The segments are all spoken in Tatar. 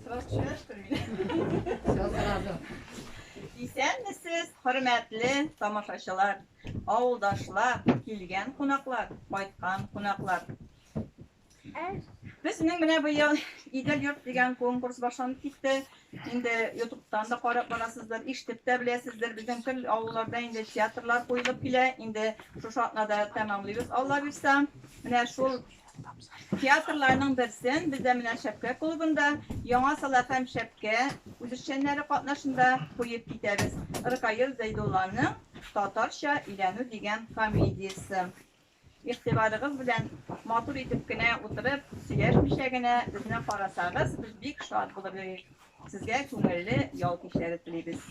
Сразу чуяш күрмиле. Все сразу. Исәнмесез, хөрмәтле тамашачылар, авылдашлар, килгән кунаклар, кайткан кунаклар. Безнең менә быел Идел йорт дигән конкурс башланып китте. Инде ютубтан да карап барасыздыр, ишетеп тә беләсездер. Безнең тел авылларда инде театрлар куелып килә. Инде шушы атнада тәмамлыйбыз, Алла бирса. Менә шул Театрларның берсен бездә менә Шәпкә клубында, Яңа Сала һәм Шәпкә үзешчәннәре катнашында куеп китәбез, Ркаил Зәйдулланың Татарча өйләнү дигән комедиясе. Игътибарыгыз белән матур итеп кенә утырып, сөйләшмичә генә безне карасагыз, без бик шат булып йөрик. Сезгә күңелле ял кичләре телибез.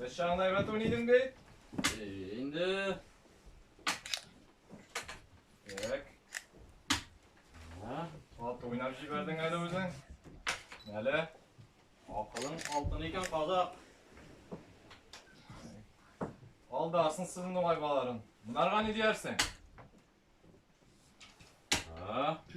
Нәрсә аңларга тон идең бит? Инде. Так. Ат уйнап җибәрдең әле үзең. Әле акылың алтын икән казак. Алда асын сызын уңай баларын. Монарга ни диярсең? Так.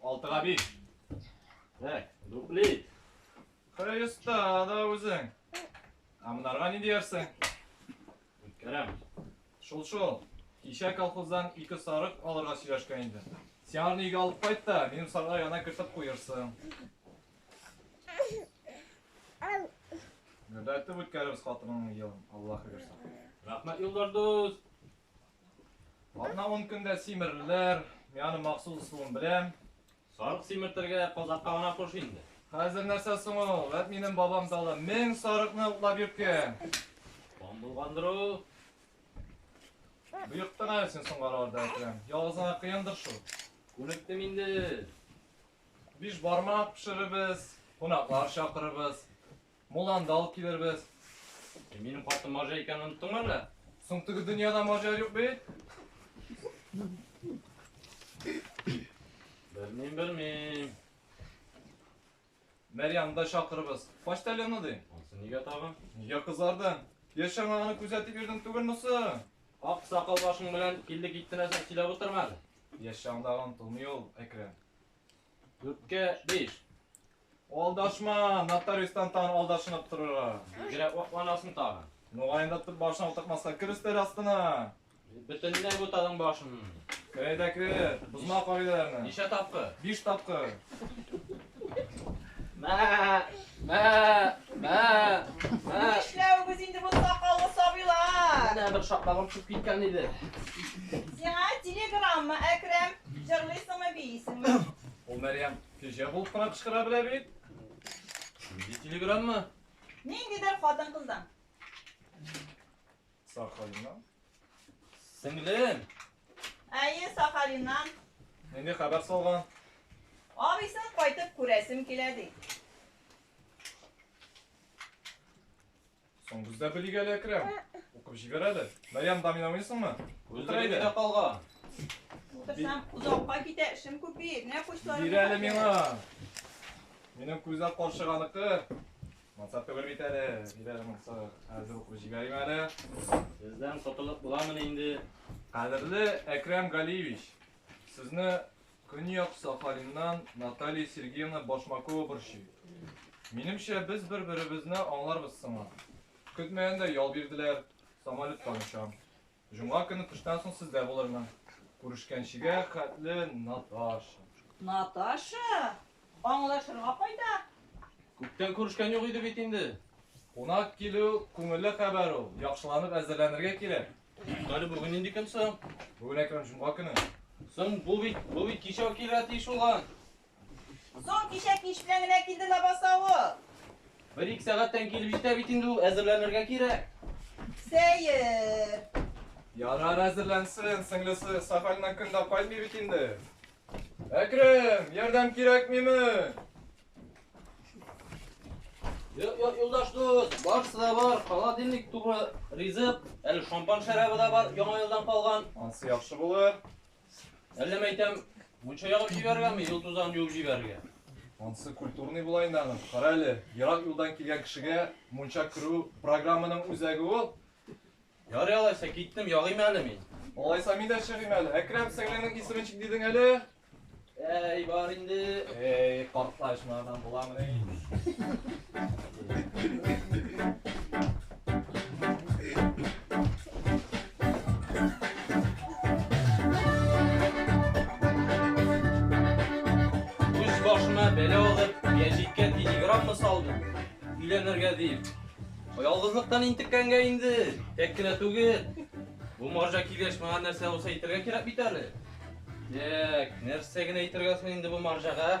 Алтыга биш. Так, дублит. Кырай оста да үзең. Ә монарга ни диярсең? Үткәрәм. Шул шул. Кичә колхоздан ике сарык алырга сөйләшкән иде. Син аны өйгә алып кайт та, минем сарыга яна кертеп куерсың. Гөрләтеп үткәрәбез хатыныңның елын. Аллаһы бирсә. Рәхмәт, Илдар дус. Ана ун көндә симерлеләр, мияны махсус ысулын беләм. Сарык симертергә казакка гына куш инде. Хәзер нәрсә соң ул? Вәт минем бабам талы мең сарыкны утлап йөрткән. Бам булгандыр ул. Боектың әле син соңгараларда әкрәм. Ялгызыңа кыендыр шул. Күнектем инде. Биш бармак пешеребез, кунаклар чакырыбыз. Мулланы да алып килербез. Ә минем хатыным Марҗа икәнен оныттыңмы әллә? Соң теге дөньяда Марҗа юк бит. Белмим, белмим. Мәрьямны да чакырыбыз. Почтальонны ди. Ансы нигә тагын? Нигә кызарды? Яшәң аны күзәтеп йөрдең түгелме соң? Ак сакал башың белән килде китте нәрсә сөйләп утырма әле. Яшәң дагы онытылмый ул, Әкрәм. Дүрткә биш. Алдашма, нотариустан тагын алдашынып торырга. Бигрәк вакланасың тагын. Мөгаен да башына утыртмаска кер өстәл астына. Бөтенләй бутадың башын. Керә дә кер, бозма кагыйдәләрне. Ничә тапкыр? Биш тапкыр. Мә, Мә, мә, мә. Нишләвегез инде бу сакаллы сабыйлар? Менә бер шакмагым төшеп киткән иде. Сиңа телеграмма, Әкрәм. Җырлыйсыңмы, биисеңме? Ул Мәрьям кәҗә булып кына кычкыра белә бит. Нинди телеграмма? Ниндидер хатын-кыздан. Сахалиннан. Сеңлем! Әйе, Сахалиннан. Нинди хәбәр салган? Абыйсын кайтып күрәсем килә ди. Соң бездә белик әле, Әкрәм. Укып җибәр әле. Мәриям да мин уйныйсыңмы? Утыр әйдә. Үзләрендә калган. Утырсам, озакка китә, эшем күп бит. Менә кучларым. Бир әле миңа. Минем күзәк карчыганыкы. Мансап түгел бит әле. Диләр мансап. Хәзер укып җибәрим әле. Сездән котылып буламыни инде? Кадерле Әкрам Галиевич, сезне Көньяк Сахалиннан Наталья Сергеевна Башмакова борчый. Минемчә, без бер-беребезне аңларбыз сыман. Көтмәгәндә ял бирделәр, самолеттан очам. Җомга көне төштән соң сездә булырмын. Күрешкәнчегә хәтле, Наташа. Наташа? Аңлашырга кайда? Күптән күрешкән юк иде бит инде. Кунак килү күңелле хәбәр ул. Яхшыланып әзерләнергә кирәк. Әле бүген нинди көн соң? Бүген Әкрам җомга көне. Соң бу бит, бу бит кичә үк килергә тиеш булган. Соң кичәк нич белән генә килде лабаса ул. Бер-ике сәгатьтән килеп җитә бит инде ул, әзерләнергә кирәк. Сәер. Ярар әзерләнсен, сеңлесе Сахальна көн дә кайтмый бит инде. Әкрем, ярдәм кирәкмиме? Юлдаш дус, барысы да бар, холодильник туры ризык, әле шампан шәрабы да бар, яңа елдан калган. Ансы яхшы булыр. Әллә мәйтәм, мунча ягып җибәрергәме, ел тузан юып җибәрергә? Монсы культурный була инде аның. Кара әле, ерак юлдан килгән кешегә мунча керү программаның үзәге ул. Ярый алайса, киттем, ягыйм әле мин. Алайса мин дә чыгыйм әле. Әкрәм, сеңлеңнең исеме ничек дидең әле? Әй, бар инде. Әй, картлач, моңардан буламыни? өйләнергә дип. Ялгызлыктан интеккәнгә инде, тәк кенә түгел. Бу марҗа килеш миңа нәрсә булса әйтергә кирәк бит әле. Тәк, нәрсә генә әйтергә соң инде бу марҗага?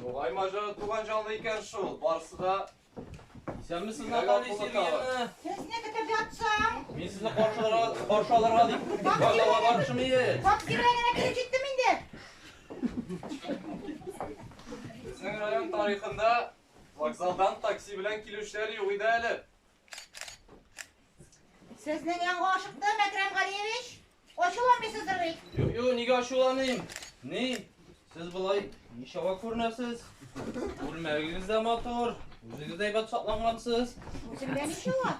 Югай мажа туган җанлы икән шул, барсы да Исәнме сез Наталья Сергеевна? Сез не китәбәтсәң? Мин сезне каршыларга, каршы алырга дип. Бакалга барышым иде. Как кирәгенә килеп җиттем инде. Безнең район тарихында вокзалдан такси белән килүчеләр юк иде әле. Сезнең янга ашыктым, Әкрәм Галиевич. Ачуланмыйсыздыр бит? Юк, юк, нигә ачуланыйм? Ни? Сез болай ничава күренәсез? Күлмәгегез дә матур, үзегез дә әйбәт саклангансыз. Үземдә ничава?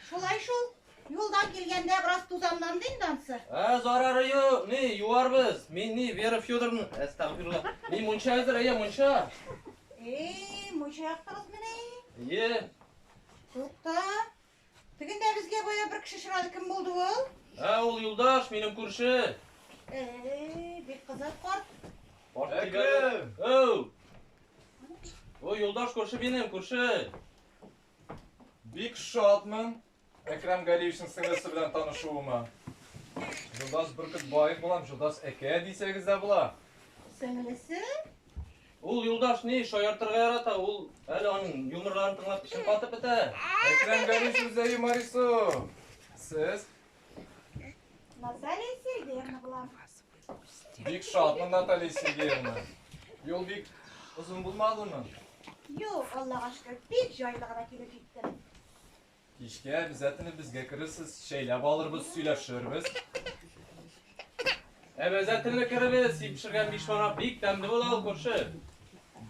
Шулай шул. Юлдан килгәндә бераз тузанланды инде ансы. Ә, зарары юк, ни, юарбыз. Мин ни, Вера Федоровна, әстәгфирулла. Ни, мунча әзер, әйе, мунча. Эй, мунча яктыгыз менә. Әйе. Тукта. Тегендә безгә бая бер кеше чырады, кем булды ул? Ә, ул юлдаш, минем күрше. Эй, бик кызыл корт. Әкрем! Әу! Ой, юлдаш күрше минем, күрше. Бик шатмын. Әкрам Галиевичның сеңлесе белән танышуыма. Җолдас Бөркетбаев булам, Җолдас әкә дисәгез дә була. Сеңлесе? Ул юлдаш ни, шаяртырга ярата, ул әле аның юморларын тыңлап эчем катып бетә. Әкрәм Гәриш үзе юморису. Сез? Наталья Сергеевна була. Бик шатмын, Наталья Сергеевна. Юл бик озын булмадымы? Юк, Аллага шөкер, бик җайлы гына килеп җиттем. Кичкә әбзәтне безгә керерсез, чәйләп алырбыз, сөйләшербез. Әбзәтне керербез, дип пешергән биш марак бик тәмле була ул күрше.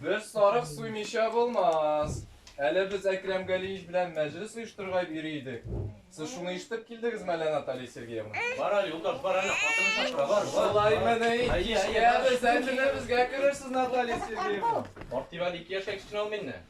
Без сарык суймыйча булмас. Әле без Әкрәм Галиевич белән мәҗлес оештырырга йөри идек. Сез шуны ишетеп килдегез мәле, Наталья Сергеевна? Бар әле, Юлдаш, бар әле, хатын чакыра, бар, бар. Шулай мәне, кичкә әбзәтне безгә керерсез, Наталья Сергеевна. Мактибал ике яшькә кечкенә ул миннән.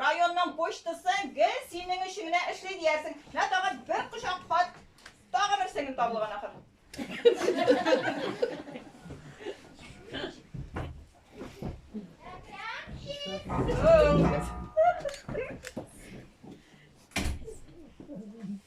Районның почтасы гел синең өчен генә эшли диярсең. Менә тагын бер кочак хат, тагын бер сеңел табылган ахыр. Oh,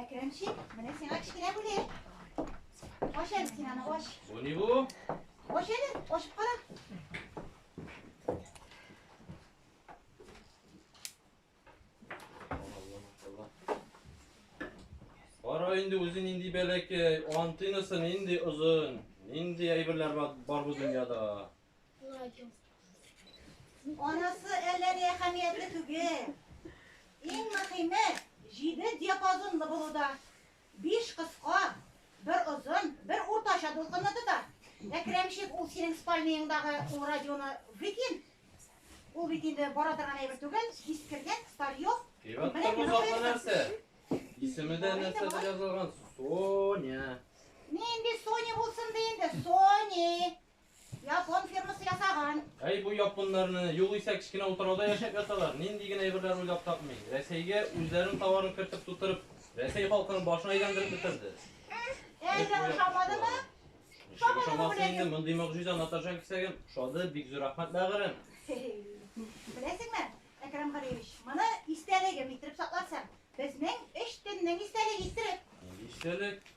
Әкрәмчик, менә сиңа кечкенә бүләк. Аш әле син аны, аш. Бу ни бу? Аш әле, ашып кара. Кара инде үзе нинди бәләкәй, антинасы нинди озын, нинди әйберләр бар бу дөньяда. Анасы әллә ни әһәмиятле түгел. Иң мөһиме, җиде диапазонлы булуда. Биш кыска, бер озын, бер уртача дулкынны тота. Әкрәмчик, ул синең спальнияңдагы ул радионы выкин. Ул бит инде бара торган әйбер түгел, искергән, старьев. Әйбәт тормыш атлы нәрсә. Исемедә нәрсә дип язылган? Соня. Нинди Соня булсын ди инде? Сони. Япон фирмасы ясаган. Әй, бу японнарны, югыйсә кечкенә утрауда яшәп яталар, нинди генә әйберләр уйлап тапмый. Рәсәйгә үзләренең товарын кертеп тутырып, Рәсәй халкының башын әйләндереп бетерде. Әйдә, ошамадымы? Ничек ошамасын инде, мондый могҗиза Наташа кисәгем, ошады, бик зур рәхмәт, бәгырем. Беләсеңме, Әкрам Галиевич, моны истәлегем иттереп сакласам, безнең өч төннең истәлеге иттереп. Нинди истәлек?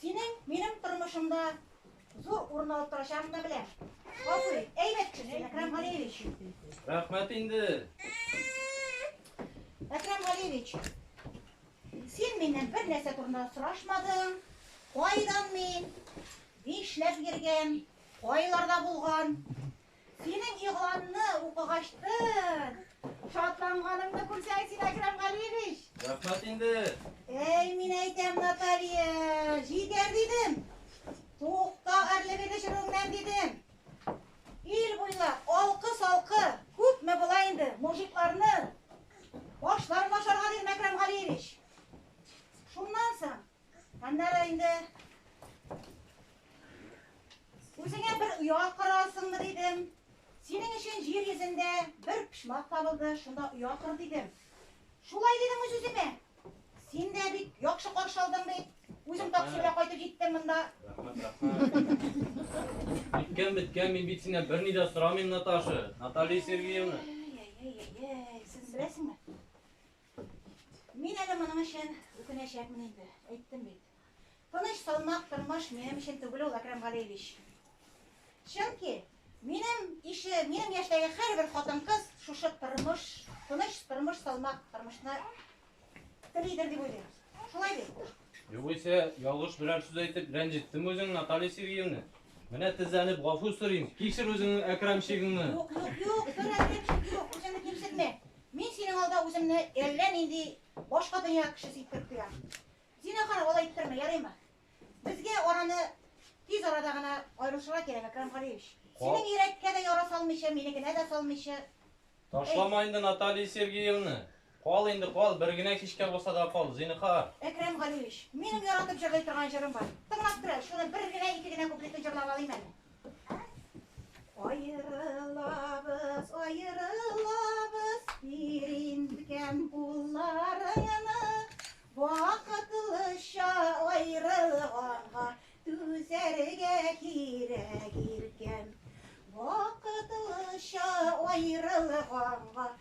Синең минем тормышымда зур урын алып торачагын да беләм. Гафу ит. Әйбәт кеше, Әкрам Галиевич. Рәхмәт инде. Әкрам Галиевич, син миннән бер нәрсә турында сорашмадың. Кайдан мин? Нишләп йөргән? Кайларда булган? Синең игъланны укыгач тын шатланганымны күрсәң син, Әкрәм Галиевич! Рәхмәт инде! Әй, мин әйтәм, Наталья, җитәр дидем! Тукта гарьлеге төшерүеңнән, дидем! Ил буйлап алкы-салкы күпме була инде, мужикларны башларын ашарга дидем, Әкрәм Галиевич! Шуннан соң. Аннары инде Үзеңә бер оя корасыңмы дидем. Синең өчен җир йөзендә бер почмак табылды, шунда оя кор дидем. Шулай дидем үз үземә. Син дә бит яхшы каршы алдың бит. Үзем такси белән кайтып җиттем монда. Беткән беткән, мин бит синнән берни дә сорамыйм, Наташа. Наталья Сергеевна. Әй, әй, әй, әй, сез беләсеңме? Мин әле моның өчен үкенәчәкмен инде, әйттем бит. Тыныч, салмак тормыш минем өчен түгел ул, Әкрәм Галиевич. Чөнки минем ише, минем яшьтәге һәрбер хатын-кыз шушы тормыш, тыныч тормыш, салмак тормышны телидер дип уйлыйм. Шулай бит? Югыйсә, ялгыш берәр сүз әйтеп, рәнҗеттем үзең, Наталья Сергеевна. Менә тезләнеп гафу сорыйм. Кичер үзеңнең Әкрамчигыңны. Юк, юк, юк, бер әкрамчик юк, үзеңне кимсетмә. Мин синең алда үземне әллә нинди башка дөнья кешесе иттереп тоям. Зинахар, алай иттермә, ярыймы? Безгә араны тиз арада гына аерышырга кирәк, Әкрам Галиевич. Синең йөрәккә дә яра салмыйча, минекенә дә салмыйча. Ташламайынды Наталья Сергеевна. Кал инде, кал, бер генә кичкә булса да кал, зинһар. Әкрәм Галиевич, минем яратып җырлый торган җырым бар. Тыңлап тора, шуны бер генә, ике генә куплетын җырлап алыйм әле. Аерылабыз, аерылабыз, бир инкәм кулларыңны, Вакытлыча аерылганга түзәргә кирәк, иркәм. Вакытлыча аерылганга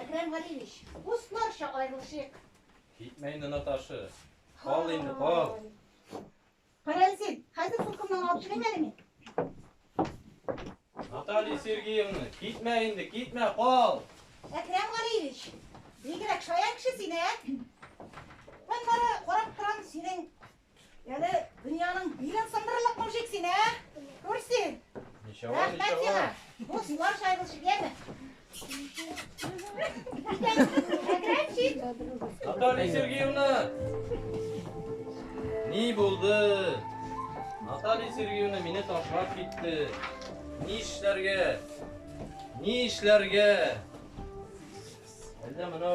Әкрәм Галиевич, дусларча аерылышыйк. Китмә инде, Наташа. Кал инде, кал. Кара син, хәзер куркымнан алып чыгыйм әле мин. Наталья Сергеевна, китмә инде, китмә, кал. Әкрәм Галиевич, бигрәк шаян кеше син, ә? Мин бары карап торам, синең Әле дөньяның билен сындырырлык мужик син, ә? Күрсен. Рәхмәт сиңа. Бу сулар шайгылчы дияме? Әкрәмчик. Наталья Сергеевна. Ни булды? Наталья Сергеевна мине ташлап китте. Ни эшләргә? Ни эшләргә? Әллә менә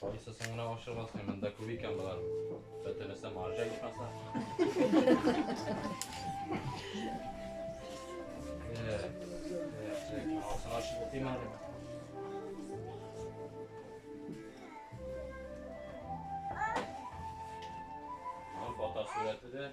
Кайсы соңына ашык басмый, монда күп икән болар. Бөтенесе маржа ичмаса. Алтын ашык утыйм әле. Фото сурәте дә.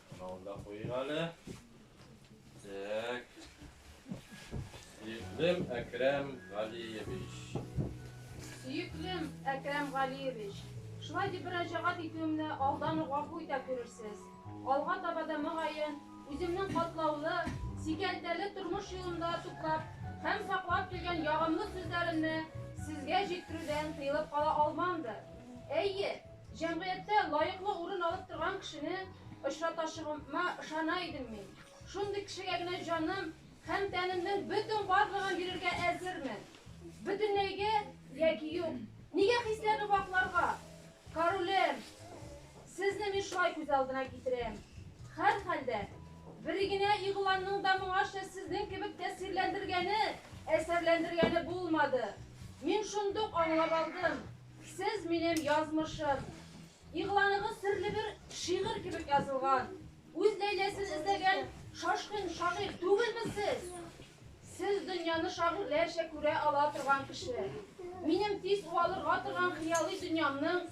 Мынауны да куйыйк әле. Так. Сөеклем Әкрәм Галиевич. Сөеклем Әкрәм Галиевич. Шулай дип мөрәҗәгать итүемне алдан ук гафу итә күрерсез. Алга таба да мөгаен үземнең катлаулы, сикәлтәле тормыш юлында туплап һәм саклап килгән ягымлы сүзләремне сезгә җиткерүдән тыелып кала алмамдыр. Әйе, Җәмгыятьтә лаеклы урын алып торган кешене очратачагыма ышана идем мин. Шундый кешегә генә җаным һәм тәнемнең бөтен барлыгын бирергә әзермен. Бөтенләйгә яки юк. Нигә хисләрне вакларга? Королем, сезне мин шулай күз алдына китерәм. Һәрхәлдә, берегенә игъланның да моңарча сезнең кебек тәэсирләндергәне, әсәрләндергәне булмады. Мин шундук аңлап алдым, Сез, минем язмышым. Игъланыгыз серле бер шигырь кебек язылган. Үз Ләйләсен эзләгән шашкын шагыйрь түгелме сез? Сез дөньяны шагыйрьләрчә күрә ала торган кеше. Минем тиз уалырга торган хыялый дөньямның,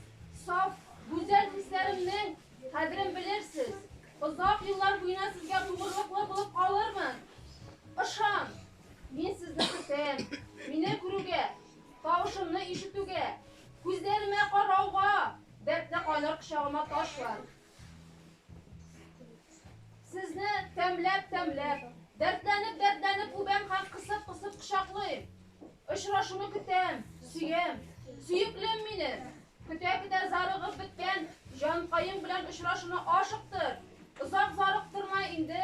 саф, гүзәл хисләремнең кадерен белерсез. Озак еллар буена сезгә тугрылыклы булып калырмын. Ышан! Мин сезне көтәм. Мине күрүгә, Тавышымны ишетүгә, күзләремә карауга, дәртле кайнар кочагыма ташлан. Сезне тәмләп-тәмләп, дәртләнеп-дәртләнеп үбәм һәм кысып-кысып кочаклыйм. Очрашуны көтәм, сөям, сөеклем мине. Көтә-көтә зарыгып беткән җанкаем белән очрашуны ашыктыр. Озак зарыктырма инде,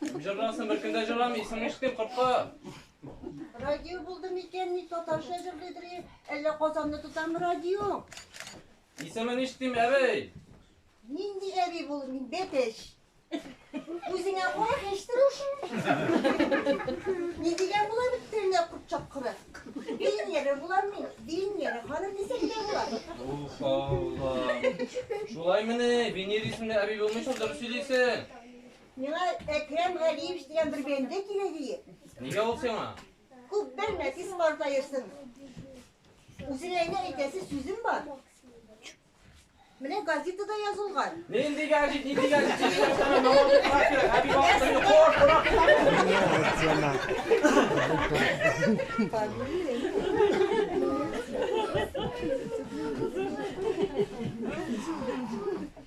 Кем җырласын, бер көн дә җырламый, исең ишетмим, кортка. Радио булды микән, ни татарча җырлыйдыр, әллә Казанны тотам радио? Исемен ишетмим, әбей. Нинди әби бул, мин бәпеш. Үзеңә кара хәштер ошын. Ни дигән була бит телендә курт чапкыры. Дин яре була мин, дин яре ханым дисәң дә була. Ух, Алла. Шулай мени, Венер исемле әби булмыйсың, дөрес сөйлисең. Миңа Әкрәм Галиевич дигән бер бәндә кирәк иде. Нигә ул сиңа? Күп белмә, тиз картаерсың. Үзенә генә әйтәсе сүзем бар. Менә газетада язылган. Нинди газет, нинди газет? Чишмәсенә намаз укырга кирәк. Әби вакытын йоклар, курак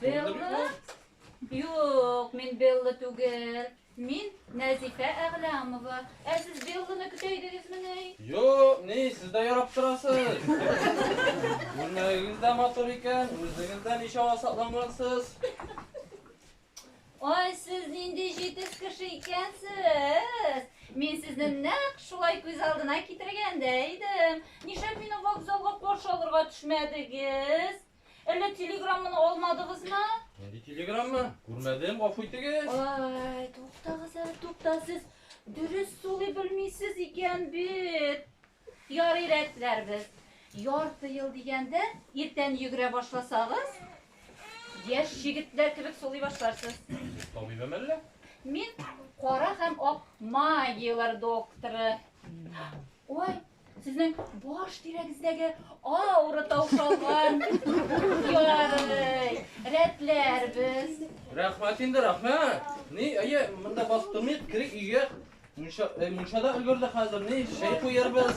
Белла? Юк, мин Белла түгел. Мин Нәзифә Әгъләмова. Ә сез Белланы көтә идегезмени? Юк, ни, сез дә ярап торасыз. Күлмәгегез дә матур икән, үзегез дә ничава саклангансыз. Ай, сез нинди җитез кеше икәнсез. Мин сезне нәкъ шулай күз алдына китергәндә идем. Нишләп мине вокзалга каршы алырга төшмәдегез? Әллә телеграмманы алмадыгызмы? Нинди телеграмма? Күрмәдем, гафу итегез. Ай, туктагыз әле, тукта сез. Дөрес сулый белмисез икән бит. Ярый рәтләрбез. Ярты ел дигәндә, иртән йөгерә башласагыз, яшь җегетләр кебек сулый башларсыз. Табибем әллә? Мин кара һәм ак магияләр докторы. Ой, Сезнең баш тирәгездәге аура таушалган. Ярый. Рәтләрбез. Рәхмәт инде, рәхмәт. Ни, әйе, монда басып тормыйк, керик өйгә. Мунча, э, мунча да өлгерде хәзер. Ни, чәй куярбыз.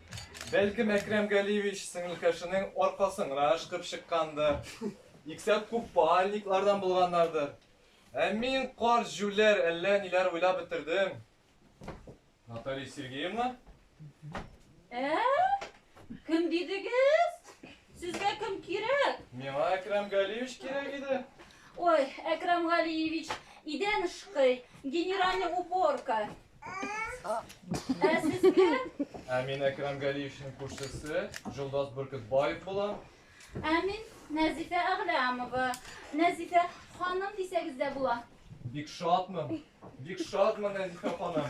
Бәлкем Әкрәм Галиевич сеңелкәшенең аркасын гына ышкып чыккандыр, иксәк купальниклардан булганнардыр. Ә мин карт җүләр әллә ниләр уйлап бетердем. Наталья Сергеевна? Ә? Кем дидегез? Сезгә кем кирәк? Миңа Әкрәм Галиевич кирәк иде. Ой, Әкрәм Галиевич, идән ышкый, генеральный уборка. Ә мин Әкрам Галиевичнең күршесе, Җолдас Бөркетбаев булам. Ә мин Нәзифә Әгъләмова. Нәзифә ханым дисәгез дә була. Бик шатмын. Бик шатмын, Нәзифә ханым.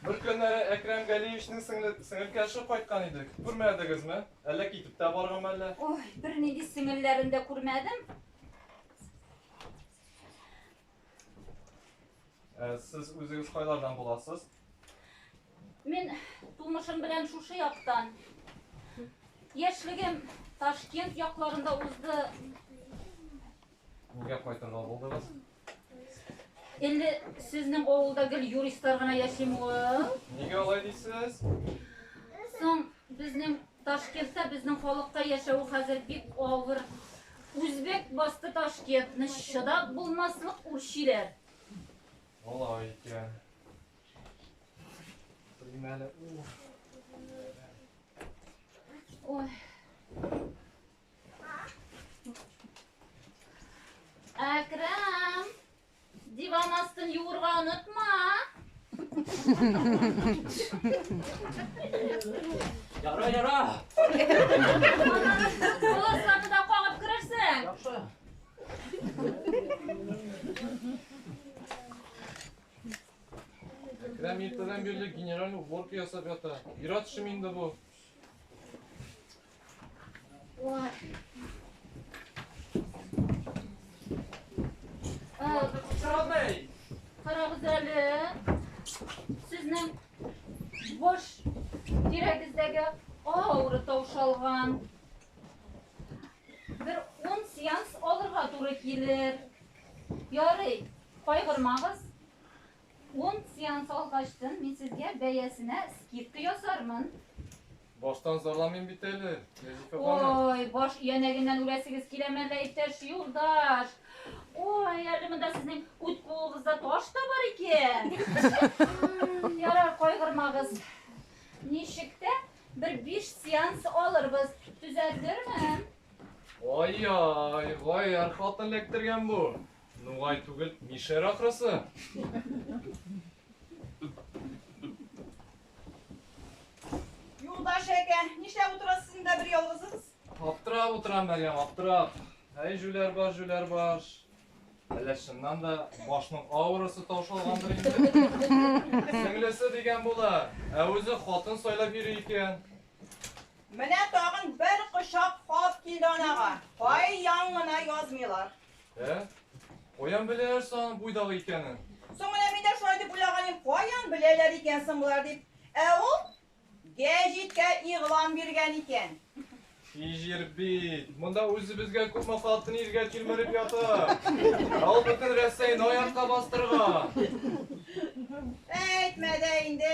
Бер көннәре Әкрам Галиевичнең сеңелкәше кайткан иде. Күрмәдегезме? Әллә китеп тә барган әллә? Ой, бернинди сеңелләрен дә күрмәдем. Ә сез үзегез кайлардан буласыз? Мин тумышым белән шушы яктан. Яшьлегем Ташкент якларында узды. Нигә кайтырга булдыгыз? Инде сезнең авылда гел юристлар гына яшим ул. Нигә алай дисез? Соң Безнең Ташкентта безнең халыкка яшәү хәзер бик авыр. Үзбәк басты Ташкентны, чыдап булмаслык үрчиләр. Алай икән. Белмим әле. Ой. Әкрам! Диван астын юырга онытма. Яра, яра. Коласларны да кагып керерсең. Яхшы. Әкрәм иртәдән бирле генераль уборка ясап ята. Ират шим инде бу. Карагыз әле. Сезнең бош тирәгездәге авыры таушалган. Бер он сеанс алырга туры килер. Ярый, кайгырмагыз. Ун сеанс алгачтын мин сезгә бәясенә скидка ясармын. Баштан зарламыйм бит әле, Нәзифә ханым. Ой, баш иянәгеннән үләсегез киләме әллә, иптәш юлдаш? Ой, әле монда сезнең үт куыгызда таш та бар икән. М, Ярар, кайгырмагыз. Ничек тә бер биш сеанс алырбыз. Төзәттермен. Ай-яй, гаярь хатын эләктергән бу. Нугай түгел, Мишәр ахрысы. Юлдаш әкә, нишләп утырасыз син дә бер ялгызыгыз? Аптырап утырам, Мәгәм, аптырап. Әй, жүләр баш, жүләр баш. Әллә чыннан да башның аурасы таушалгандыр инде. Сеңлесе дигән була, ә үзе хатын сайлап йөри икән. Менә тагын бер кочак хат килде анага. Кай яңгына язмыйлар. Ә? Каян беләләр соң буйдагы икәнен? Соң менә мин дә шулай дип уйлаганым, каян беләләр икән соң болар дип. Ә ул гәҗиткә игълан биргән икән. И җир бит, монда үзебезгә күпме хатын иргә тилмереп ята. Ә ул бөтен Рәсәйне аякка бастырган. Әйтмә дә инде.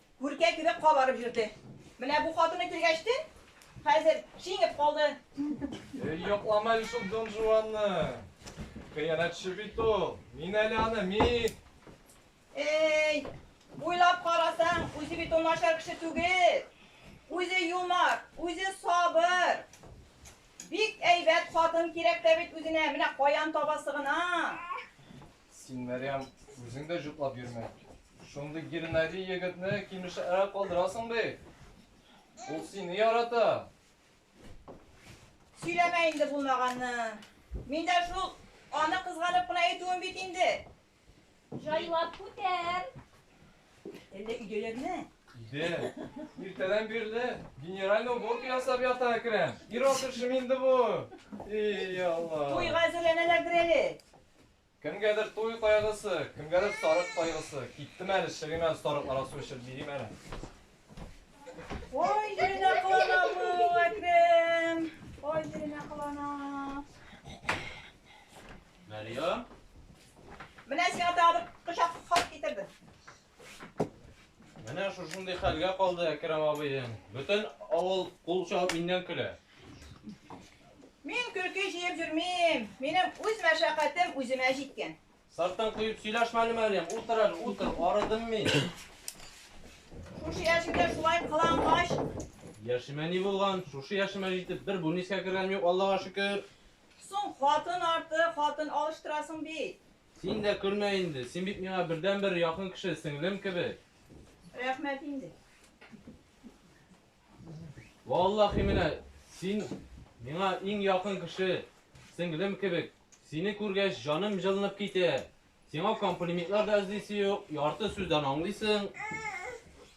Күркә кебек кабарып йөрде. Менә бу хатыны килгәч тә, хәзер шиңеп калды. Эй, яклама әле шул Дон Жуанны. Хыянәтче бит ул. Мин әле аны, мин! Эй, уйлап карасаң, үзе бит ул начар кеше түгел. Үзе юмар, үзе сабыр. Бик әйбәт хатын кирәк тә бит үзенә, менә каян табасы гына. Син, Мәрьям, үзең дә җутлап йөрмә. Шундый гирнәри егетне кимешәрәк калдырасың бе? Ул сине ярата. Сөйләмә инде булмаганны. Мин дә шул аны кызганып кына әйтүем бит инде. Җайлап күтәр. Әллә өйдәләрме? Иде. Иртәдән бирле генеральный уборка ясап ята Әкрәм. Ир-ат эшеме инде бу? Эй, Алла. Туйга әзерләнәләрдер әле. Кемгәдер туй кайгысы, кемгәдер сарык кайгысы. Киттем әле, чыгыйм әле сарыкларга су эчеп бирим әле. Ой, җиренә кылана бу, Әкрәм. Ой, җиренә кылана. Мәрьям. Менә сиңа тагы бер кочак хат китердем. Менә шушындый хәлгә калды Әкрам абыйның. Бөтен авыл кул чабып миннән көлә. Мин көлке җыеп йөрмим. Минем үз мәшәкатем үземә җиткән. Сарттан куеп сөйләшмә әле, Мәриям. Утыр әле, утыр. Арыдым мин. Шушы яшемдә шулай кылангач. Яшемә ни булган? Шушы яшемә җитеп бер бүнискә кергәнем юк, Аллага шөкер. Соң хатын арты, хатын алыштырасың бит. Син дә көлмә инде, син бит миңа бердәнбер якын кеше, сеңлем кебек. Рәхмәт инде. Валлахи менә син миңа иң якын кеше, сеңлем кебек. Сине күргәч, җаным җылынып китә. Сиңа комплиментлар да эзлисе юк, ярты сүздән аңлыйсың.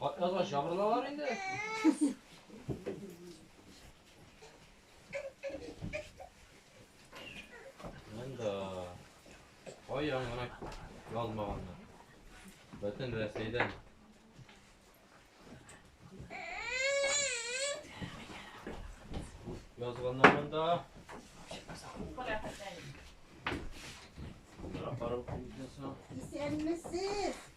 Катназга җабырналар инде. Монда каян гына язмаганнар. Бөтен Рәсәйдән. Язганнар монда. Исәнмесез!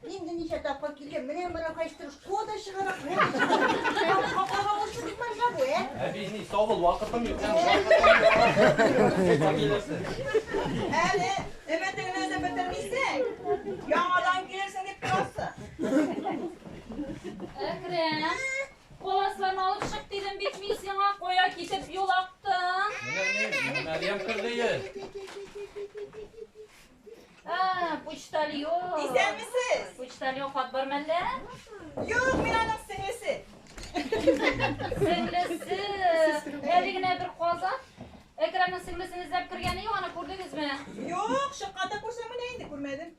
Инде ничә тапкыр килгән, менә мына кайчтыр шкода чыгара, шкода чыгара. Капкага ошып бик маржа бу, ә? Әби, ни, савыл, вакытым юк. Әле өмәтеңне дә бетермисең. Яңадан килерсең дип торасы. Әкрәм, коласларны алып чык дидем бит мин сиңа, кая китеп юлактың? Менә ни, Мәрьям кердеер. А, почтальон. Исәнмесез. Почтальон хат бар мәллә? Юк, мин аның сеңлесе. Сеңлесе. Әле генә бер казак Экранның сеңлесен эзләп кергәне юк, аны күрдегезме? Юк, шыкканда күрсәм менә инде күрмәдем.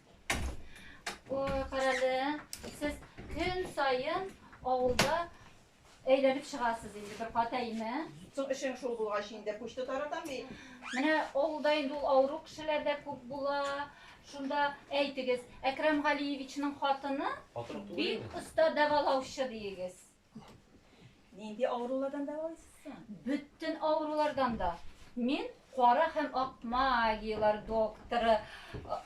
Ой, карале. Сез көн сайын авылда Әйләнеп чыгасыз инде бер кат, әйме? Соң эшең шул булгач инде почта таратам бит. Менә авылда инде ул авыру кешеләр дә күп була. Шунда әйтегез, Әкрам Галиевичның хатыны бик оста дәвалаучы диегез. Нинди авырулардан дәвалыйсыз соң? Бөтен авырулардан да. Мин Кара һәм ак магияләр докторы.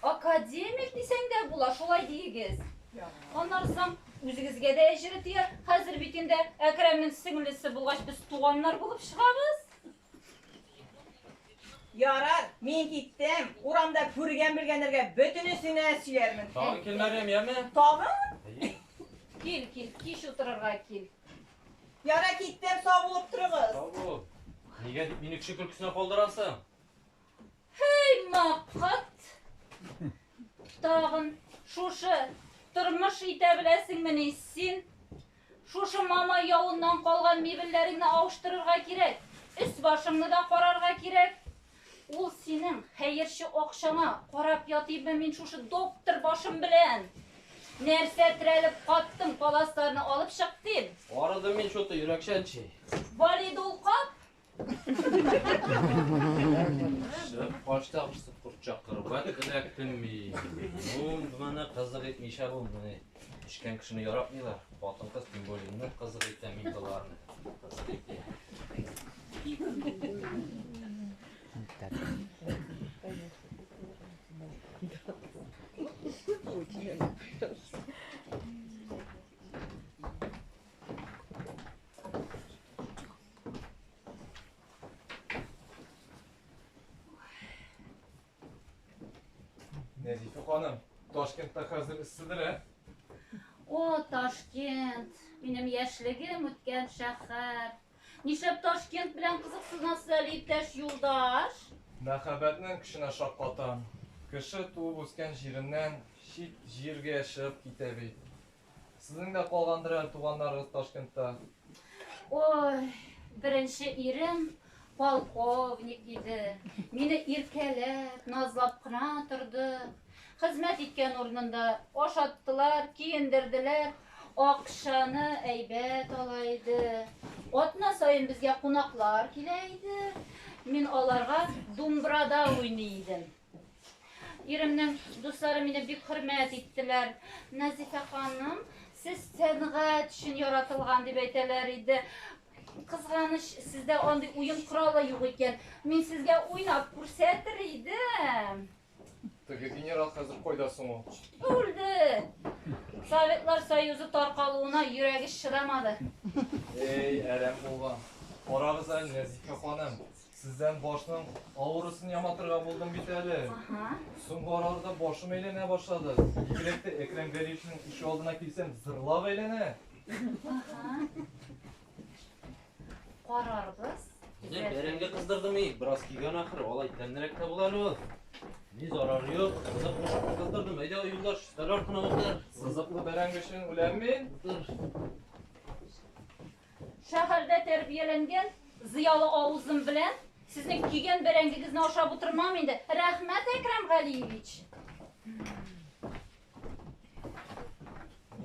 Академик дисәң дә була, шулай диегез. Аннары соң үзегезгә дә әҗере тияр. Хәзер бит инде Әкрәмнең сеңлесе булгач, без туганнар булып чыгабыз. Ярар, мин киттем. Урамда күргән-белгәннәргә бөтенесенә сөйләрмен. Тагын кил, Мәрьям, яме? Тагын? Кил, кил, кич утырырга кил. Ярай, киттем, сау булып торыгыз. Сау бул. Нигә дип мине кеше көлкесенә калдырасың? Хей, мапхат! Тагын шушы тормыш итә беләсеңмени син? Шушы мама явыннан калган мебельләреңне алыштырырга кирәк. Өс башыңны да карарга кирәк. Ул синең хәерче акчаңа карап ятыйммы мин шушы доктор башым белән? Нәрсә терәлеп каттың, паласларны алып чык дим. Арыдым мин шуты йөрәкчән чи. Валиды ул кап. Качта кысып курчак кырып, вәт эләктем мин. Ну, мына кызык итмичә булмый. Эчкән кешене яратмыйлар. Хатын-кыз тем более нык кызык итә мин боларны. Кызык итә. Нәзифә ханым, Ташкентта хәзер эсседер, ә? О, Ташкент, минем яшьлегем үткән шәһәр. Нишләп Ташкент белән кызыксынасыз әле, иптәш юлдаш? Мәхәббәтнең көченә шаккатам. Кеше туып үскән җиреннән чит җиргә чыгып китә бит. Сезнең дә калгандыр әле туганнарыгыз Ташкентта? Ой, беренче ирем полковник иде. Мине иркәләп, назлап кына торды. Хезмәт иткән урынында ашаттылар, киендерделәр, акчаны әйбәт ала иде. Атна саен безгә кунаклар килә иде. Мин аларга думбрада уйный идем. Иремнең дуслары мине бик хөрмәт иттеләр. Назифә ханым, сез сәнгать өчен яратылган дип әйтәләр иде. Кызганыч, сездә андый уен коралы юк икән. Мин сезгә уйнап күрсәтер идем. Теге генерал хәзер кайда соң ул? Үлде. Советлар Союзы таркалуына йөрәге чыдамады. Эй, әрәм булган. Карагыз әле, Нәзифә ханым, Сездән башның авырысын яматырга булдым бит әле. Ага. Соңгы араларда башым әйләнә башлады. Бигрәк тә Әкрәм Гәрәевичнең ишек алдына килсәм, зырлап әйләнә. Ага. Карарбыз. Менә бәрәңге кыздырдым и, бераз кигән ахыр, алай тәмнерәк тә була әле ул. Ни зарары юк, кызык кушып кыздырдым. Әйдә, юлдаш, өстәл артына утыр. Сызыклы бәрәңге өчен үләм мин. Утыр. Шәһәрдә тәрбияләнгән зыялы авызым белән сезнең кигән бәрәңгегезне ашап утырмам инде. Рәхмәт, Әкрәм Галиевич.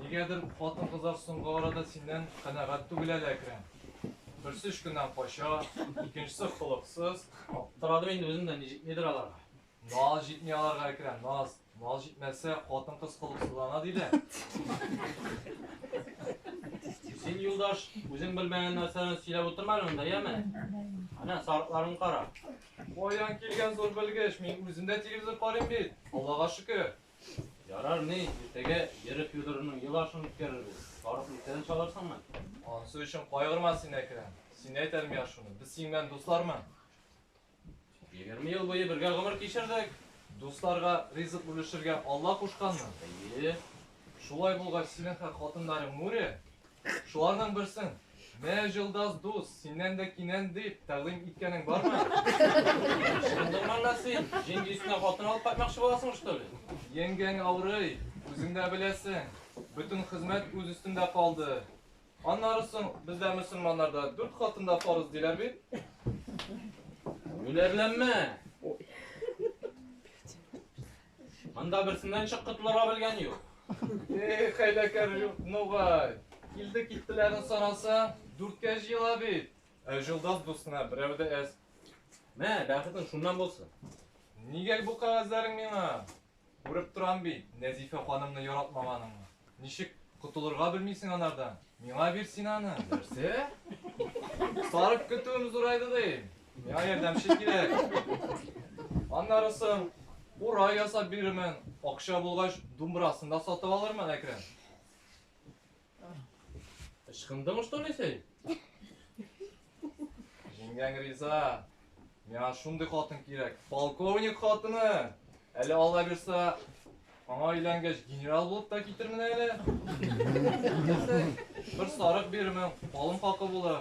Нигәдер хатын-кызлар соңгы арада синнән канәгать түгел әле, Әкрәм. Берсе өшкеннән кача, икенчесе холыксыз. Аптырадым инде үзем дә, ничек нидер аларга. Наз җитми аларга, Әкрәм, наз. Наз җитмәсә, хатын-кыз холыксызлана, ди дә. Син, юлдаш, үзең белмәгән нәрсәләрне сөйләп утырма әле монда, яме? Әнә, сарыкларын кара. Каян килгән зур белгеч, мин үзем дә телевизор карыйм бит. Аллага шөкер. Ярар ни, иртәгә Вера Федоровнаның ел ашын үткәрербез. Сарык иртәдән чалырсыңмы? Ансы өчен кайгырма син, Әкрәм. Син әйт әле миңа шуны, без синең белән дуслармы? Егерме ел буе бергә гомер кичердек. Дусларга ризык бүлешергә Алла кушканмы? Әйе. Шулай булгач, синең хәк хатыннарың Нури, шуларның берсен Мә җылдас дус, синнән дә кинән дип тәкъдим иткәнең бармы? Шындырман да син, җиңги өстенә хатын алып кайтмакчы буласың, что ли? Еңгәң авырый, үзең дә беләсең. Бөтен хезмәт үз өстендә калды. Аннары соң бездә мөселманнарда дүрт хатын да фарыз диләр бит. Үләрләнмә. Монда берсеннән чык котылырга белгән юк. Эх, хәйләкәр юк, нугай. Килде киттеләрен сараса, дүрткә җыела бит. Ә җолдас дустына берәү дә әз. Мә, бәхетең шуннан булсын. Нигә бу кәгазьләрең миңа? Күреп торам бит, Нәзифә ханымны яратмаганыңны. Ничек котылырга белмисең анардан? Миңа бир син аны. Нәрсә? Сарык көтүем зурайды ди. Миңа ярдәмче кирәк. Аннары соң курай ясап бирермен, акча булгач, думбырасын да сатып алырмын, Әкрәм. Ычкындың что ли син? Җиңгәң риза. Миңа шундый хатын кирәк. Полковник хатыны. Әле алла бирса, аңа өйләнгәч генерал булып та китермен әле. Бер сарык бирермен, калын хакы булыр.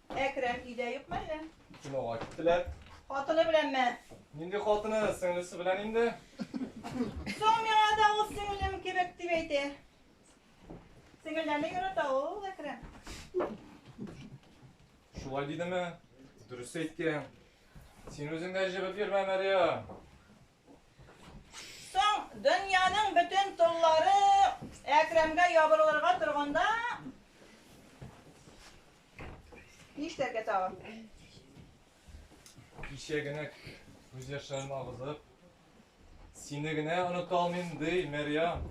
Әкрәм өйдә юкмы әллә? Кинога киттеләр. Хатыны беләнме? Нинди хатыны, сеңлесе белән инде. Соң миңа да ул сеңлем кебек дип әйтә. Сеңелләрне ярата ул Әкрәм. Шулай дидеме? Дөрес әйткән. Син үзең дә җебеп йөрмә, Мәрия. Соң, дөньяның бөтен толлары Әкрамгә ябырылырга торганда, нишләргә тагын? Кичә генә күз яшьләрен агызып, сине генә оныта алмыйм, ди, Мәрьям.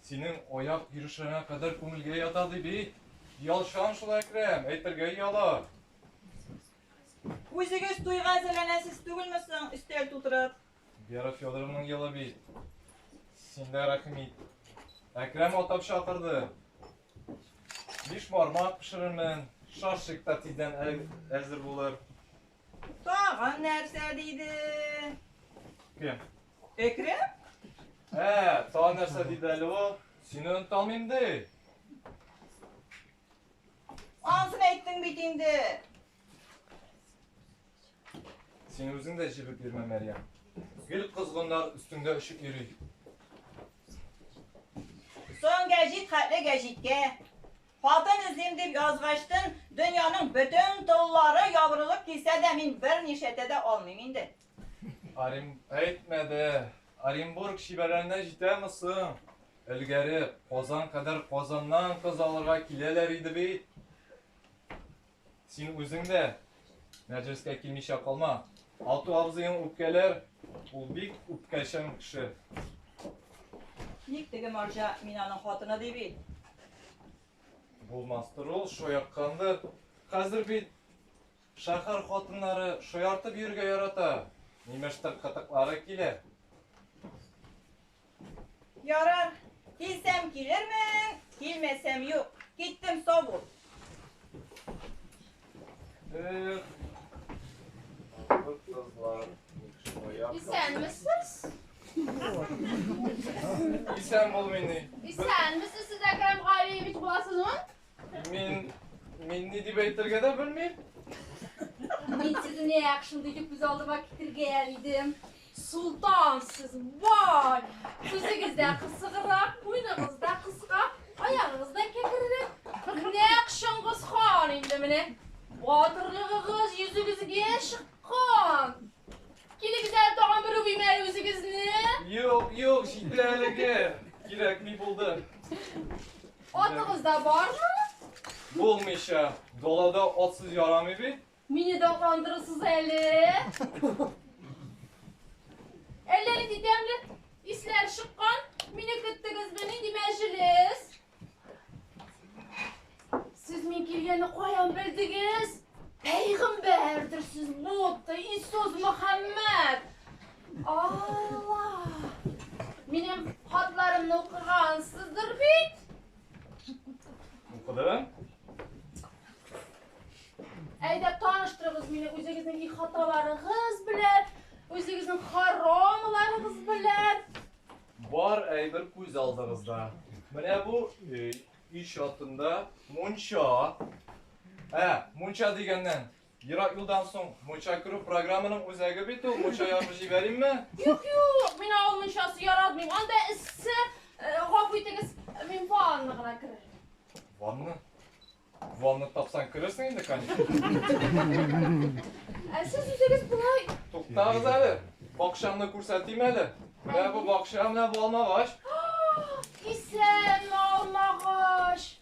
Синең аяк йөрешләреңә кадәр күңелгә ята, ди бит. Ялчан шул Әкрәм, әйтергә ояла. Үзегез туйга әзерләнәсез түгелме соң, өстәл тутырып? Вера Федоровның елы бит. Синдә рәхмит. Әкрәм атап чакырды. Биш бармак пешерермен, шашик та тиздән әзер булыр. Тагын нәрсә диде? Кем? Әкрәм? Ә, тагын нәрсә диде әле ул? Сине оныталмыйм ди. Ансын әйттең бит инде. Син үзең дә җебеп йөрмә, Мәрьям. Гел козгыннар өстеңдә очып йөри. Соң гәҗит хәтле гәҗиткә. Хатын эзлим дип язгачтын, дөньяның бөтен толлары ябырылып килсә дә, мин бернишәтә дә алмыйм инде. Орен... Әйтмә дә, Оренбург шибәләренә җитәме соң? Элгәре Казан кадәр Казаннан кыз алырга киләләр иде бит. Син үзең дә мәҗлескә килмичә калма. Алту абзыең үпкәләр, ул бик үпкәчән кеше. Ник теге марҗа мин аның хатыны ди бит. Булмастыр ул, шаярткандыр. Хәзер бит Шәһәр хатыннары шаяртып йөрергә ярата, нимәштер кытыклары килә. Ярар, килсәм килермен, килмәсәм юк. Киттем, сау бул. Эх, андыр кызлар, ник шаяп. Исәнмесез? Исән бул мени. Исәнмесез, сез Әкрәм Галиевич буласызмы? Мин мин ни дип әйтергә дә белмим. Мин сезне нәкъ шундый итеп күз алдыма китергән идем. Султан сез, вай! Сүзегез дә кысыграк, муеныгыз да кыска, аягыгыз да кәкрерәк. Нәкъ Чыңгыз хан инде менә. Батырлыгыгыз йөзегезгә чыккан. Килегез әле тагын бер үбим әле үзегезне. Юк, юк, җитте әлеге. Кирәкми булды. Атыгыз да бармы? Булмыйча, далада атсыз ярамый бит. Мине дә кандырырсыз әле. Әллә нинди тәмле исләр чыккан. Мине көттегезме? Нинди мәҗлес? Сез мин килгәнне каян белдегез? Пәйгамбәрдер сез, Будда, Иисус Мөхәммәд. Алла! Минем хатларымны укыгансыздыр бит? Укыдым. Әйдә таныштырыгыз мине үзегезнең их хаталарыгыз белән, үзегезнең харамларыгыз белән. Бар әйбер күз алдыгызда. Менә бу өй, өй чатында мунча. Ә, мунча дигәннән, Ерак юлдан соң мунча керү программаның үзәге бит ул. Мунча ягып җибәримме? Юк, юк, мин авыл мунчасы яратмыйм. Анда эссе, э, гафу итегез, мин ванна гына керер. Ванна? Ванна тапсаң керерсең инде, конечно. Ә сез үзегез болай Туктагыз әле. Бакчамны күрсәтим әле. Менә бу бакча, менә бу алмагач. Исән алмагач.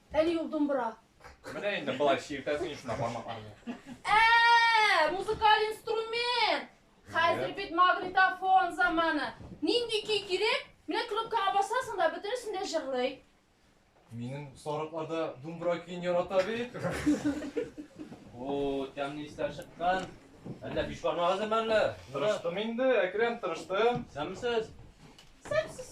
Әле юк думбра. Менә инде болай чиртәсең шунда бармакларны. Ә, музыкаль инструмент. Хәзер бит магнитофон заманы. Нинди көй кирәк? Менә кнопкага басасың да бөтенесен дә җырлый. Минем сарыкларда думбра көен ярата бит. О, тәмле исләр чыккан. Әллә биш бармак әзерме әллә? Тырыштым инде, Әкрәм, тырыштым. Сәмсез. Сәмсез.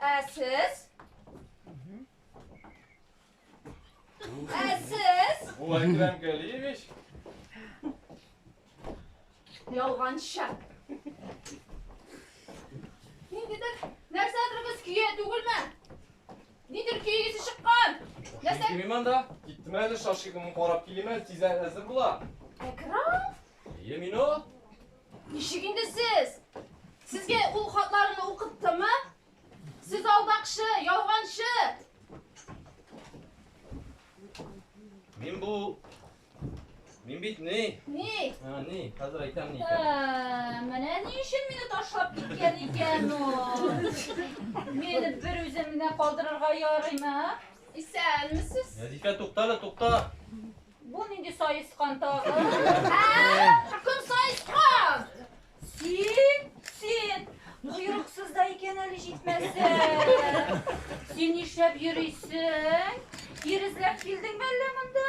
Ә сез? Ә сез? Бу Әкрәм Галиевич. Ялганча. Ниндидер нәрсәдерегез көя түгелме? Нидер көйегез чыккан. Нәрсә? Кимим анда. Киттем әле шашигымны карап килемен, тиз әзер була. Әкрам? Әйе, мин ул. Ничек инде сез? Сезгә ул хатларны укыттымы? Сез алдакчы, ялганчы. Мин бу Мин бит ни? Ни? А, ни? Хәзер әйтәм ни икән. Ә, Менә ни өчен мине ташлап киткән икән ул. Мине бер үземне калдырырга ярыймы? Исәнмесез. Нәзифә, туктале, тукта. Бу нинди саескан тагы? Кем саескан? Син, син. Койрыксыз да икән әле җитмәсә. Син нишләп йөрисең? Ирезләп килдеңме әллә монда?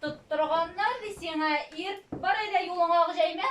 Тоттырганнар ди сиңа ир. Бар әйдә юлыңа ак җәймә.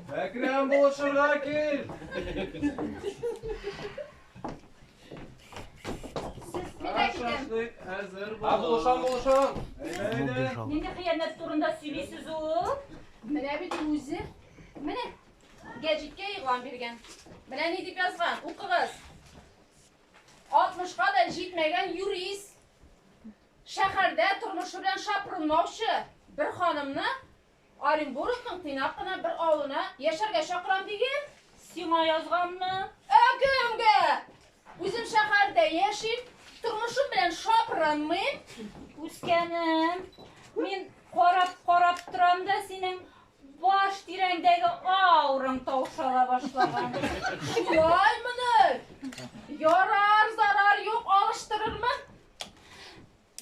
Әкрәм булышырга кил! Шашлык әзер бул. Булышам, булышам. Нинди хыянәт турында сөйлисез ул? Менә бит үзе. Менә гәҗиткә игълан биргән. Менә ни дип язган? Укыгыз. 60-ка да җитмәгән юрист. Шәһәрдә тормышы белән шапырынмаучы бер ханымны Оренбургның тыйнак кына бер авылына яшәргә чакырам диген. Сиңа язганмы? Ә кемгә? Үзем шәһәрдә яшим, тормышым белән шапырынмыйм. Үскәнем, мин карап-карап торам да, синең баш тирәңдәге аураң таушала башлаган. Шулаймыни? Ярар, зарар юк, алыштырырмын.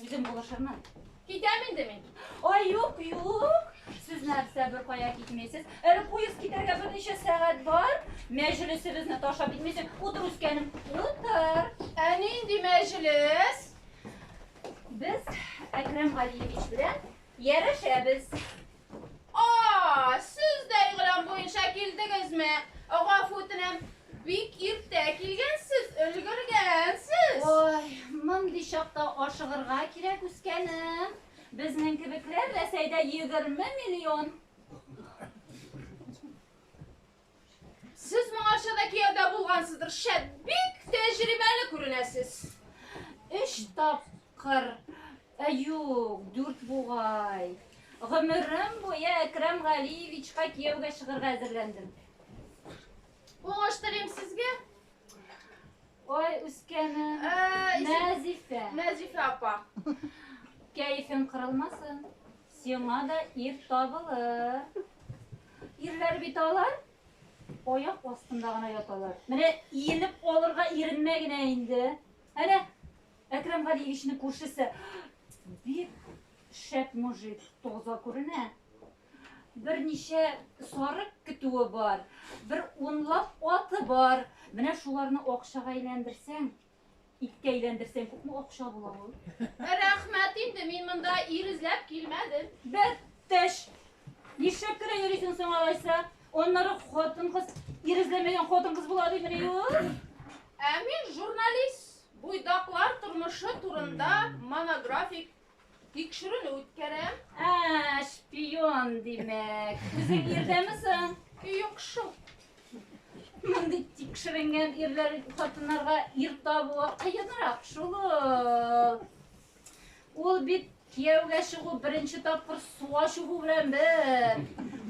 Үзем булышырмын. Китәм инде мин. Ай, юк, юк. Сез нәрсә бер кая китмисез? Әле поезд китәргә берничә сәгать бар. Мәҗлесебезне ташлап китмисез. Утыр үскәнем. Утыр. Ә нинди мәҗлес? Без Әкрәм Галиевич белән ярәшәбез. Aa, сез дә игълан буенча килдегезме? Гафу үтенәм, бик иртә килгәнсез, өлгергәнсез. Ой, мондый чакта ашыгырга кирәк, үскәнем. Безнең кебекләр Рәсәйдә егерме миллион. Сез моңарча да кияүдә булгансыздыр, шәп, бик тәҗрибәле күренәсез. Өч тапкыр, ә юк, дүрт бугай. Гомерем буе Әкрәм Галиевичка кияүгә чыгырга әзерләндем. Уңыш телим сезгә. Ой, үскәнем. Мәзифә. Мәзифә апа. Кәефең кырылмасын. Сиңа да ир табылыр. Ирләр бит алар. Аяк астында гына яталар. Менә иелеп алырга иренмә генә инде. Әнә Әкрам Галиевичның күршесе бик шәп мужик, таза күренә. Берничә сарык көтүе бар, бер унлап аты бар. Менә шуларны акчага әйләндерсәң, Иккә әйләндерсәң күпме акча була ул? Рәхмәт инде, мин монда ир эзләп килмәдем. Бер теш. Нишләп кенә йөрисең соң алайса? Аннары хатын-кыз ир эзләмәгән хатын-кыз була димени ул? Ә мин журналист. Буйдаклар тормышы турында монографик Тикшерүне үткәрәм. Ә, шпион димәк. Үзең ирдәме соң? Юк шул. Мондый тикшеренгән ирләр хатыннарга ир табуы кыенрак шул. Ул бит кияүгә чыгу беренче тапкыр суга чыгу белән бер.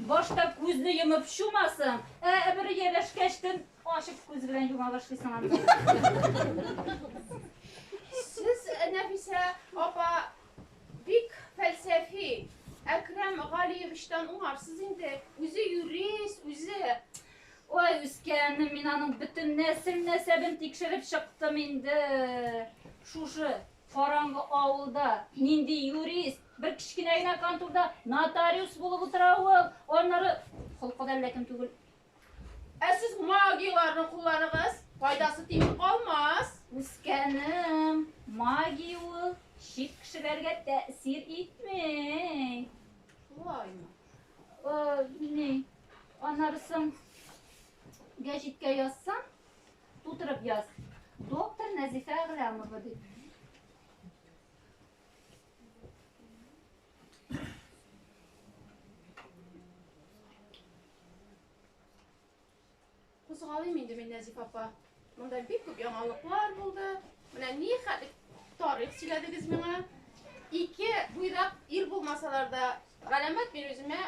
Башта күзне йомып чумасың, ә бер ияләшкәчтен Ачык күз белән юма башлыйсың аны. Сез, Нәфисә апа, бик фәлсәфи. Әкрам Галиевичтан уңарсыз инде. Үзе юрист, үзе. Ой, үскәнем, мин аның бөтен нәсел нәсәбен тикшереп чыктым инде. Шушы караңгы авылда нинди юрист, бер кечкенә генә конторда нотариус булып утыра ул, аннары холкы да әллә кем түгел. Ә сез магияләрне кулланыгыз, файдасы тими калмас. Үскәнем, магия ул чит кешеләргә тәэсир итми. Шулаймы? О, ни, анарысын гәҗиткә язсаң, тутырып яз. Доктор Нәзифә Гыламова дип. Кузгалыйм инде мин, Нәзиф апа. Монда бик күп яңалыклар булды. Менә ни хәтле тарих сөйләдегез миңа. Ике буйдак ир булмасалар да, галәмәт мин үземә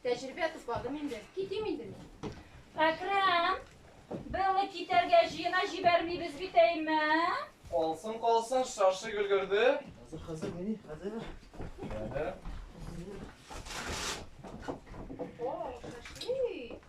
Тәҗрибә тупладым инде. Китим инде мин. Әкрам, белне китәргә җыена җибәрмибез бит әйме? Калсын, калсын, шашик өлгерде. Хәзер, хәзер, мени, хәзер. Әһә. О, шашик.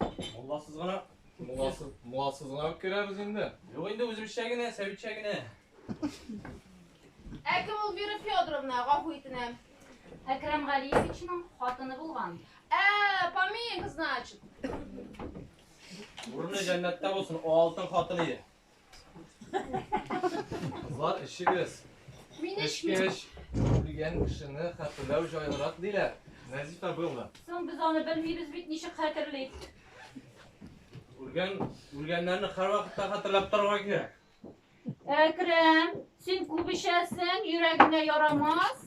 Мулласыз гына. Мулласыз, мулласыз гына үк керәбез инде. Юк инде үзебезчә генә, сәбитчә генә. Ә кем ул Вера Федоровна, гафу итенәм? Әкрам Галиевичның хатыны булган. Ә, Паменька, значит. Урыны җәннәттә булсын, алтын хатын иде. Кызлар, эчегез. Мин эчмим. Эчкәч, үлгән кешене хәтерләү җайлырак диләр. Нәзифә Белла. Соң без аны белмибез бит, ничек хәтерлик? Үлгән, үлгәннәрне һәрвакытта хәтерләп торырга кирәк. Әкрәм, син күп эчәсең, йөрәгеңә ярамас.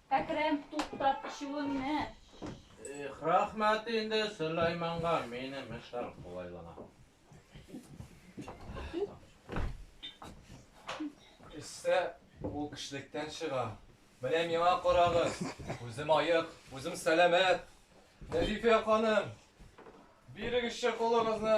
Әкрәм, туктат эчүеңне! Их, рәхмәт инде Сөләйманга, минем эшләр кулайлана. Эчсә, ул кешелектән чыга. Менә миңа карагыз, үзем аек, үзем сәламәт. Нәзифә ханым, бирегезче кулыгызны.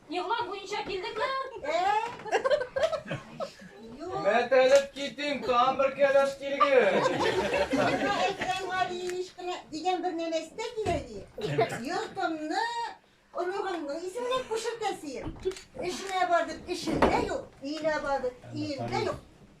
Егълан буенча килдеңме? Мәтәлеп китим, там бер кәләш килгән. Әкрәм Галиевич кенә дигән бер нәмә истә кирәк ди. Йортымны оныгымның исеменә күчертәсең. Эшенә бардык, эшендә юк, өенә бардык, өендә юк.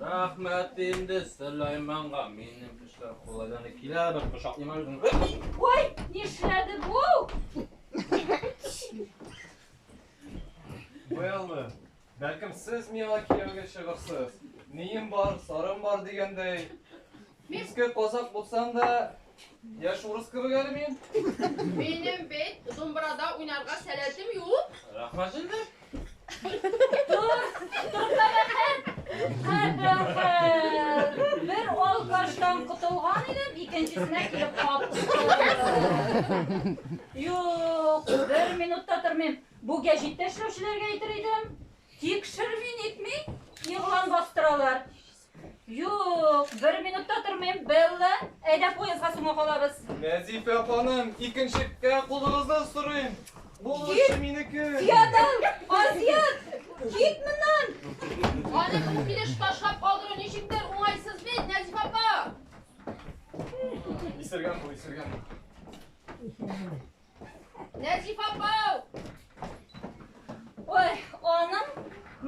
Рәхмәт инде Сөләйманга. Минем эшләр кулайдан килә, бер кочаклыйм үзен. Ой, нишләде бу? Быелмы? Бәлкем сез миңа кияүгә чыгырсыз. Нием бар, сарым бар дигәндәй. Иске казак булсам да, яшь урыс кебек әле мин. Минем бит думбырада уйнарга сәләтем юк. Рәхмәт инде. Тур, турта бәхәт. Бер алкаштан котылган идем, икенчесенә килеп каптым. Юк, бер минутта тормыйм. Бу гәҗиттә эшләүчеләргә әйтер идем. Тикшерми-нитми, игълан бастыралар. Юк, бер минут та тормыйм, Белла. Әйдә поездга соңга калабыз. Нәзифә ханым, икенчеккә кулыгызны сорыйм. Ул эше минеке. Ятам, Азият, кит моннан. Аны бу килеш ташлап калдыру ничектер уңайсыз бит, Нәзифә апа. Исергән бу, исергән. Нәҗип апау! Ой, аның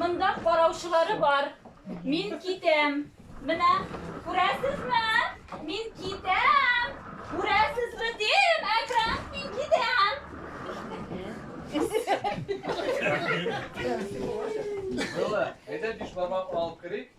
монда караучылары бар. Мин китәм. Менә, күрәсезме? Мин китәм. Күрәсезме дим, Әкрам, мин китәм. Бала, әйдә биш бармак алып керик.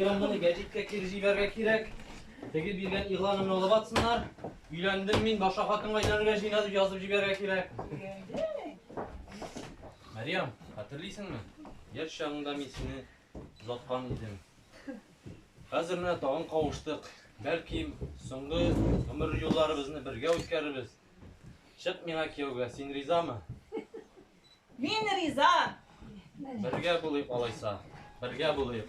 Телеграмманы гәҗиткә кире җибәрергә кирәк. Теге биргән игъланымны алып атсыннар. Өйләндем мин, башка хатынга өйләнергә җыена дип язып җибәрергә кирәк. Мәриям, хәтерлисеңме? Яшь чагыңда мин сине озаткан идем. Хәзер менә тагын кавыштык. Бәлки, соңгы гомер юлларыбызны бергә үткәрербез. Чык миңа кияүгә, син ризамы? Мин риза! Бергә булыйк алайса. Бергә булыйк.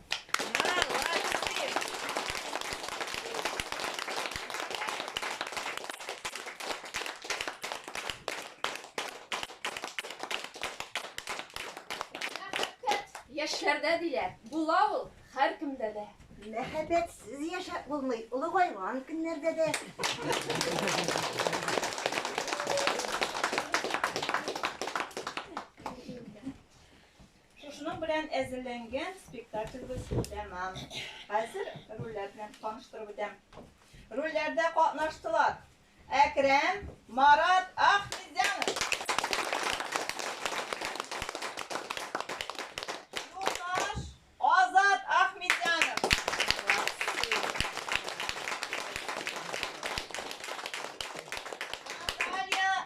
Яшьләрдә диләр, була ул һәркемдә дә. Мәхәббәтсез яшәп булмый, олыгайган көннәрдә дә. Шушының белән әзерләнгән спектакльбез тәмам. Хәзер рольләр белән таныштырып үтәм. Рольләрдә катнаштылар. Әкрәм, Марат, Ахмедзянов. Юлдаш, Азат, Ахмедзянов. Наталья,